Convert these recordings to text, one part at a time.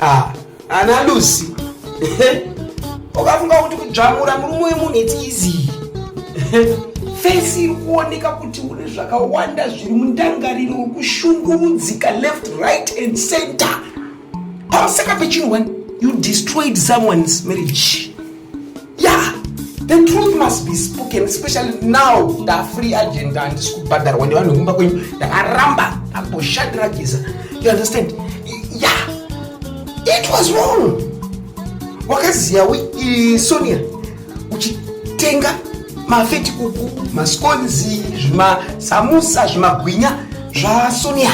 ah ana lucy ukafunga kuti kudzvamura murume wemunhu its easy fesi iri kuoneka kuti une zvakawanda zviri mundangariro wekushungurudzika left right and center pasaka pechinhu one you destroyed someone's marriage yeah the truth must be spoken especially now ndafree agenda handisi kubhadharwa nevanhu vekumba kwenyu ndakaramba ndamboshandira giza you understand yeah it was wrong wakaziya we uh, sonia uchitenga mafeti kuku maskonzi zvimasamusa zvimagwinya zvasonia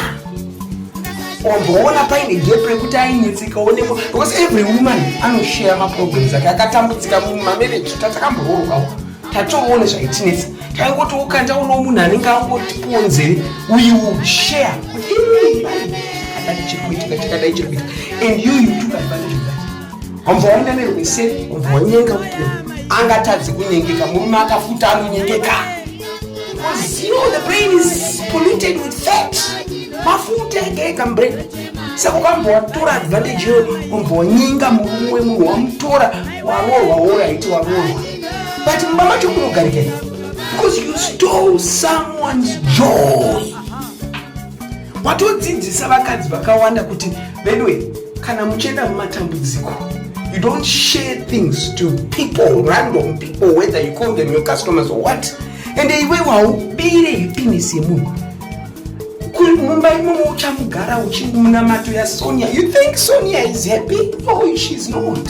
wamboona paine gap rekuti ainyetseka onekwa because every woman anoshare maproblems ake akatambudzika mumamarriage tatakambororwawo tatoone zvaitinetsa taingoti ukanda uno munhu anenge angotipuwo nzeve uyu share chirikuitikachakadai chirikuita and you you took advantage of that wambowaenda nerume sei wambowanyenga kuti angatadzi kunyengeka murume akafuta anonyengeka Because you know the brain is polluted with fat. Mafuta ega brain. Saka ukambwa watora advantage yo umbwa wanyinga mumwe munhu wamutora waroorwa woraiti waroorwa. But mumba macho munogarikei? Because you stole someone's joy. watodzidzisa vakadzi vakawanda kuti veduwe kana muchienda mumatambudziko you don't share things to people random people whether you call them your customers or what and iwe waubire happiness yemunhu mumba imomo uchamugara uchimunamato yasonia you think sonia is happy no oh, she is not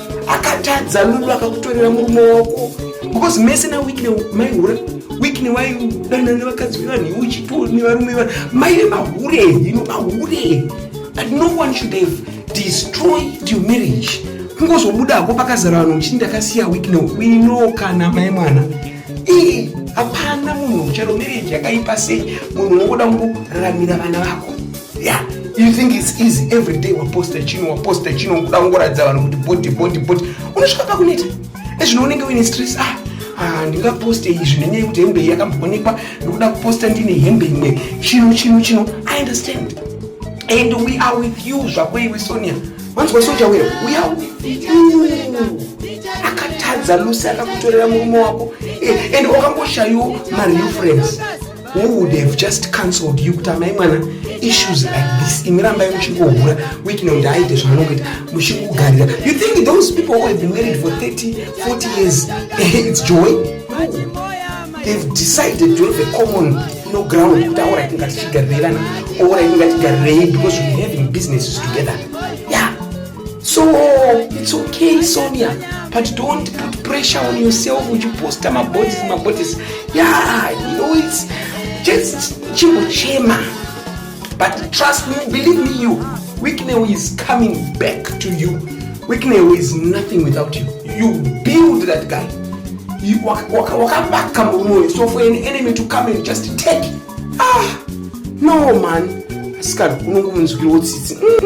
akatadza lulu akakutorera murume wako because mese na wikne maihura wikne waidana nevakadzi vevanhu iwe uchitiwo nevarume vanhu maive mahure ino mahure but no one should have destroyed your marriage kungozobudako pakazara vanhu uchiti ndakasiya wikne wino kana mai mwana ii hapana munhu ucharo marriage yakaipa sei munhu unongoda kungoraramira vana vako Yeah, you think it's easy every day waposta chino waposta chino kuda kungoratidza vanhu kuti body body body unosvika pakuneta ezvino unenge uine stress ah Ah, ndingaposte izvi nenyaya yekuti hembe iyi yakamboonekwa ndikuda kuposta ndine hembe imwe chino chino chino i understand and we are with you zvako iwe sonia wanzwa soja wera we are with you akatadza lusi akakutorera murume wako eh, and wakangoshayiwo mareal friends who would have just cancelled you kuti amai mwana issues like this imi rambai muchingohura witino kuti aite zvaanongoita muchingogarira you think those people who have been married for 30 40 years eh, it's joy they've decided to have a common no ground kuti aura itinga tichigarirei vana aura itinga tigarirei because we having businesses together so it's okay sonia but don't put pressure on yourself uchiposta mabodies mabodies yeah you know it's just chingochema but trust me believe me you wicknell is coming back to you wicknell is nothing without you you build that guy wakavaka murume uyu so for an enemy to come and just take ah no man asikadi unongomunzwirawo tsitsi mm.